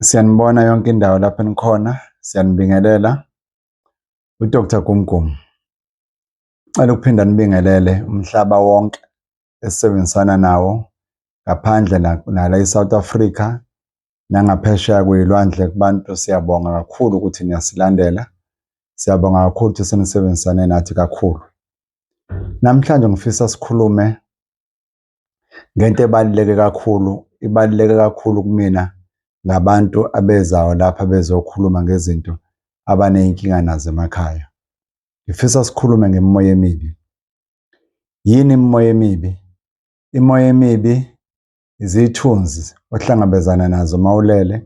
Siyanibona yonke indawo lapho enikhona, siyanibingelela. UDr Gumgum, ngicela ukuphinda nibingelele umhlaba wonke esisebenzisana nawo ngaphandle nala e-South Africa nangaphesheya kuyilwandle kubantu siyabonga kakhulu ukuthi niyasilandela. Siyabonga kakhulu ukuthi senisebenzisane nathi kakhulu. Namhlanje ngifisa sikhulume ngento ebaluleke kakhulu, ibaluleke kakhulu kumina ngabantu abezayo lapha bezokhuluma ngezinto abaney'nkinga nazo emakhaya. Ngifisa sikhulume ngemimoya emibi. Yini imimoya emibi? Imimoya emibi izithunzi ohlangabezana nazo uma ulele,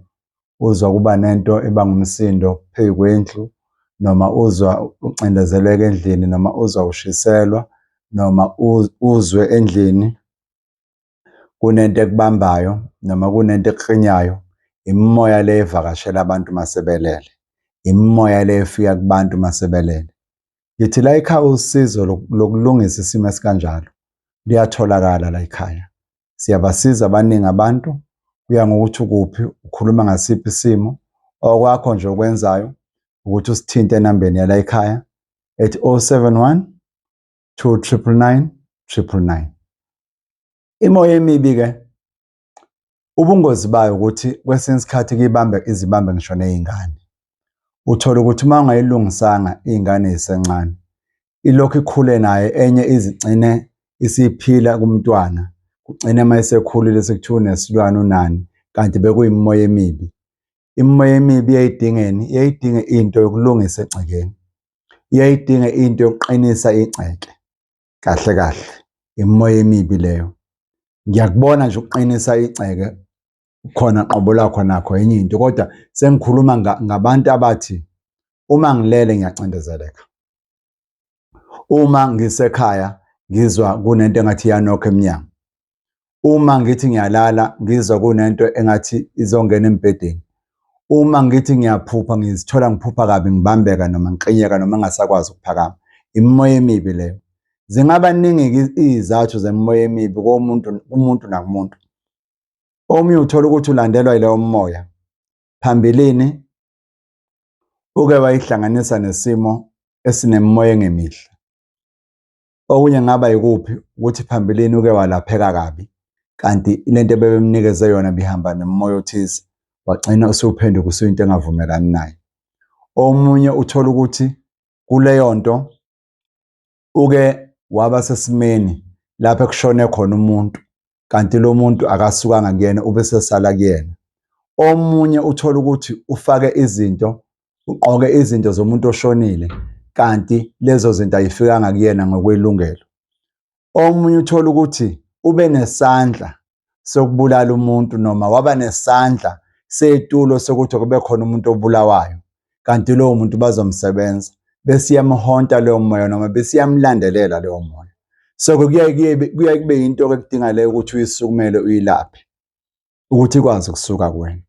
uzwa kuba nento ebanga umsindo phezu kwendlu noma uzwa ucindezeleka endlini noma uzwa ushiselwa noma uzwe endlini kunento ekubambayo noma kunento ekukrinyayo imimoya le evakashela abantu masebelele imimoya le efika kubantu masebelele ngithi la ekhaya usizo lokulungisa isimo esikanjalo liyatholakala la ekhaya siyabasiza abaningi abantu kuya ngokuthi ukuphi ukhuluma ngasiphi isimo okwakho nje okwenzayo ukuthi usithinte enambeni yala ekhaya ethi 071 299 999 imoya emibi ke ubungozi bayo ukuthi kwesinye isikhathi kuyibambe izibambe ngisho nezingane Uthola ukuthi uma ungayilungisanga ingane isencane ilokhu ikhule naye enye izigcine isiphila kumntwana kugcine uma isekhulile sekuthiwa unesilwane unani kanti bekuyimimoya emibi imimoya emibi iyayidingeni iyayidinga into yokulungisa egcekeni iyayidinga into yokuqinisa igceke kahle kahle imimoya emibi leyo ngiyakubona nje ukuqinisa igceke khona qobo lakho nakho enye into kodwa sengikhuluma ngabantu abathi uma ngilele ngiyacindezeleka uma ngisekhaya ngizwa kunento engathi iyanokho emnyango uma ngithi ngiyalala ngizwa kunento engathi izongena embhedeni uma ngithi ngiyaphupha ngizithola ngiphupha kabi ngibambeka noma ngiqinyeka noma ngasakwazi ukuphakama imimoya emibi leyo zingaba ningi izathu zemimoya emibi komuntu umuntu nakumuntu omunye uthola ukuthi ulandelwa yileyo moya phambilini uke wayihlanganisa nesimo esinemimoya engemihle okunye ngaba yikuphi ukuthi phambilini uke walapheka kabi kanti lento ebebemnikeze yona bihamba nemoya othize wagcina usuphenduka usuyinto engavumelani naye omunye uthola ukuthi kuleyo nto uke waba sesimeni lapho ekushone khona umuntu kanti lo muntu akasukanga kuyena ube sesala kuyena omunye uthola ukuthi ufake izinto ugqoke izinto zomuntu oshonile kanti lezo zinto ayifikanga kuyena ngokwelungelo omunye uthola ukuthi ube nesandla sokubulala umuntu noma waba nesandla setulo sokuthi kube khona umuntu obulawayo kanti lowo muntu bazomsebenza besiyamhonta leyo moya noma besiyamlandelela leyo moya so kuye kuye kube into ekudinga leyo ukuthi uyisukumele uyilaphe ukuthi ikwazi ukusuka kuwena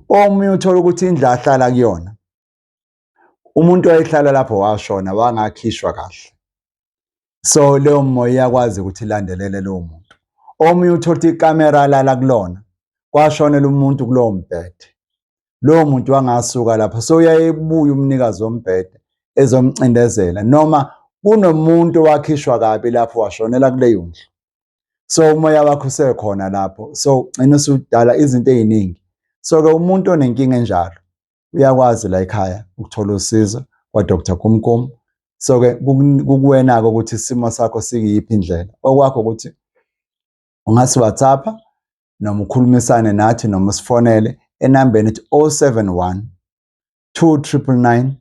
omunye uthola ukuthi indlu ahlala kuyona umuntu owayehlala lapho washona wangakhishwa kahle so leyo moya iyakwazi ukuthi ilandelele lowo muntu omunye uthola ikamera alala kulona kwashonela umuntu kulowo mbhede lowo muntu wangasuka lapho so uyayebuya umnikazi wombhede ezomcindezela noma kunomuntu owakhishwa kabi lapho washonela kuleyo ndlu so umoya wakho usekhona lapho so ugcina usudala izinto eziningi so ke umuntu onenkinga enjalo uyakwazi la ekhaya ukuthola usizo kwaDr Kumkum so ke kukuwena-ke ukuthi isimo sakho sikiyiphi indlela okwakho ukuthi ungasi whatsapp noma ukhulumisane nathi noma usifonele enambeni ethi 071 299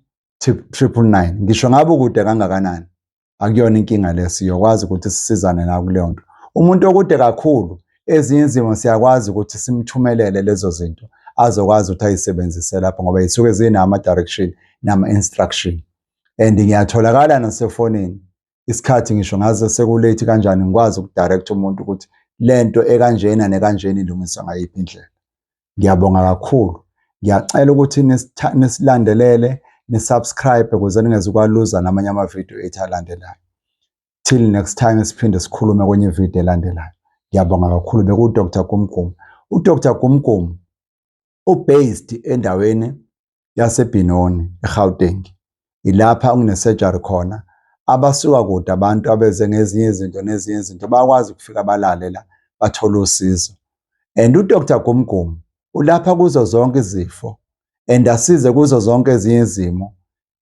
999 ngisho ngabe ukude kangakanani akuyona inkinga le siyokwazi ukuthi sisizane nakuleyo nto umuntu okude kakhulu ezinye izimo siyakwazi ukuthi simthumelele lezo zinto azokwazi ukuthi ayisebenzise lapho ngoba yisuke zinama-direction nama-instruction and ngiyatholakala nasefonini isikhathi ngisho ngaze sekulate kanjani ngikwazi ukudirect umuntu ukuthi lento ekanjena nekanjena ilungiswa ngayiphi indlela Ngiyabonga kakhulu. Ngiyacela ukuthi nisilandelele, nisubscribe ukuze ningezukwaluza namanye amavidiyo ethu alandelayo. Till next time siphinde sikhulume kwenye ividiyo elandelayo. Ngiyabonga kakhulu bekuDr Gumgum. UDr Gumgum ubased endaweni yaseBinoni, eGauteng. Ilapha okunesurgery khona. Abasuka kude abantu abeze ngezinye izinto nezinye izinto bayakwazi ukufika balale la bathole usizo. And uDr Gumgum ulapha kuzo zonke izifo and asize kuzo zonke ezinye izimo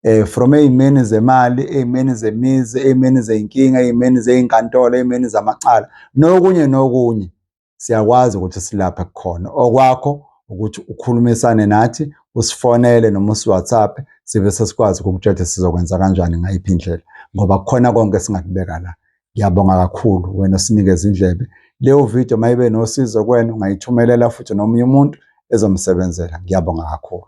eh from ezimeni zemali, ezimeni zemizi, ezimeni zeinkinga, ezimeni zeinkantolo, ezimeni zamacala nokunye nokunye. siyakwazi ukuthi silapha kukhona okwakho ukuthi ukhulumisane nathi usifonele noma usiwhatsapp sibe sesikwazi ukukutshela ukuthi sizokwenza kanjani ngayiphi indlela ngoba kukhona konke esingakubeka la ngiyabonga kakhulu wena osinikeza indlebe leyo video mayibe nosizo kwena ungayithumelela futhi nomunye umuntu ezomsebenzela ngiyabonga kakhulu